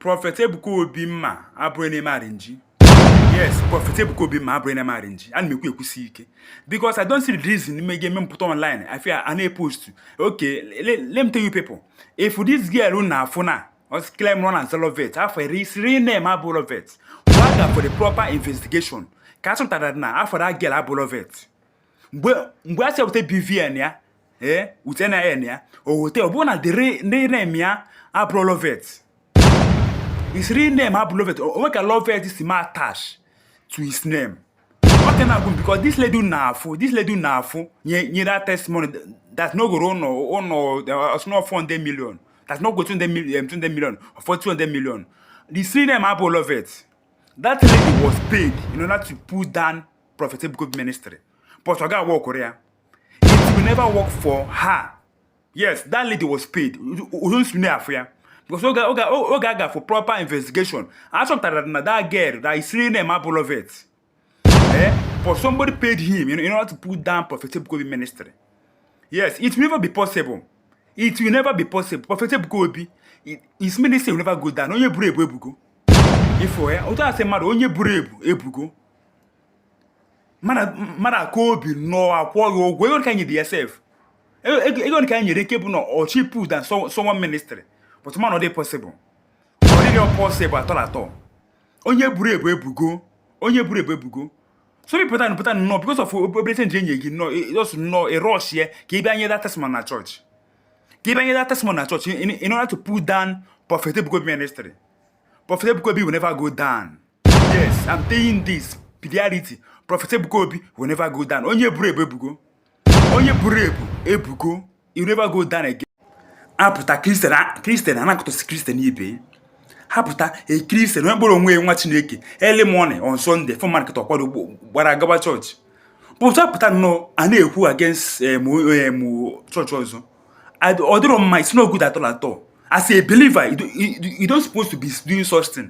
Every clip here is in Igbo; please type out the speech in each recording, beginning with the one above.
prophet ebuka obi mma abụrọ na-eme arrangee yes prophet ebuka obi mma abụrọ na-eme arrangee ana m ekwu ekwusi ike because i don't see the reason ihe ga-eme m pụta online ife i na-epost okay let me tell you people if this girl na-afụ na o claimrụ na ọ na-aza loveth afa ya his real name abụrọ loveth wa gaa for the proper investigation ka a chọpụtara na afa that girl abụrọ loveth mgbe mgbe a sị wote bvn ya ee wote nin ya o wote ọ bụrụ na the real name ya abụrọ Loveth his real name abụrọ Loveth o nwerọ ka Loveth si ma attach to his name ọ dị na-agụ because this lady na-afụ this lady na-afụ nye that testimony that na o goro ụnọ ụnọ ọ sị na ọ 400 million that na o go 200 million 200 million or 200 million the real name abụrọ Loveth that lady was paid in order to put down Prophet Ebuka Obi ministry but ọ ga-aworkoro ya it will never work for her yes that lady was paid uzo nsune afọ ya because oge oge oge a ga for proper investigation a chọpụtara na that girl that his real name abụrọ Loveth eh but somebody paid him in order to put down Prophet Ebuka Obi ministry yes it will never be possible it will never be possible Prophet Ebuka Obi his ministry will never go down onye buru ebu ebugo ifo ya otu a sị mmadụ onye buru ebu ebugo mmadụ akaa obi nnọọ akwụọ gị ụgwọ ego nke anyị dị sef ego nke anyị nyere nke bụ na ọchị put down someone ministry but mana ọ dịghị possible ọ dịghị possible at all at all onye buru ebu ebugo onye buru ebu ebugo so pụta pụta nnọọ because of obere change e nye gị nnọọ ị just e, nnọọ ị rush e ya ka ị bịa nye that testimony na church ka ị bịa nye that testimony na church in order to pull down Prophet Ebuka Obi ministry Prophet Ebuka Obi will never go down yes i'm telling this pediarity prophet ebuka obi will never go down onye buru ebu ebugo onye buru ebu ebugo he will never go down again a pụta christian christian ana-akọtọsi christian ibe ha pụta a christian onye kpọrọ onwe ya nwa chineke early morning on sunday for market ọ kwado gbara agaba church pụta pụta nnọọ a na-ekwu against eh, eh, church ọzọ ọ dịrọ mma it's not good at all at all as a believer you don't supposed to be doing such thing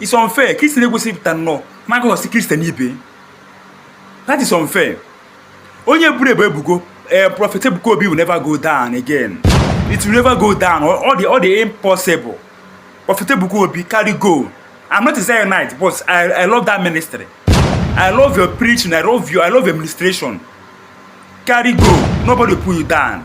It's unfair. Christian just pụta nnọọ ma gossip Christian ibe. That is unfair. Onye buru ebu ebugo eh, Prophet Ebuka Obi will never go down again. It will never go down. Ọ dị ọ dị impossible. Prophet Ebuka Obi carry go. I'm not a Zionite, but I, I love that ministry. I love your preaching. I love you. I love your ministration. Carry go. Nobody pull you down.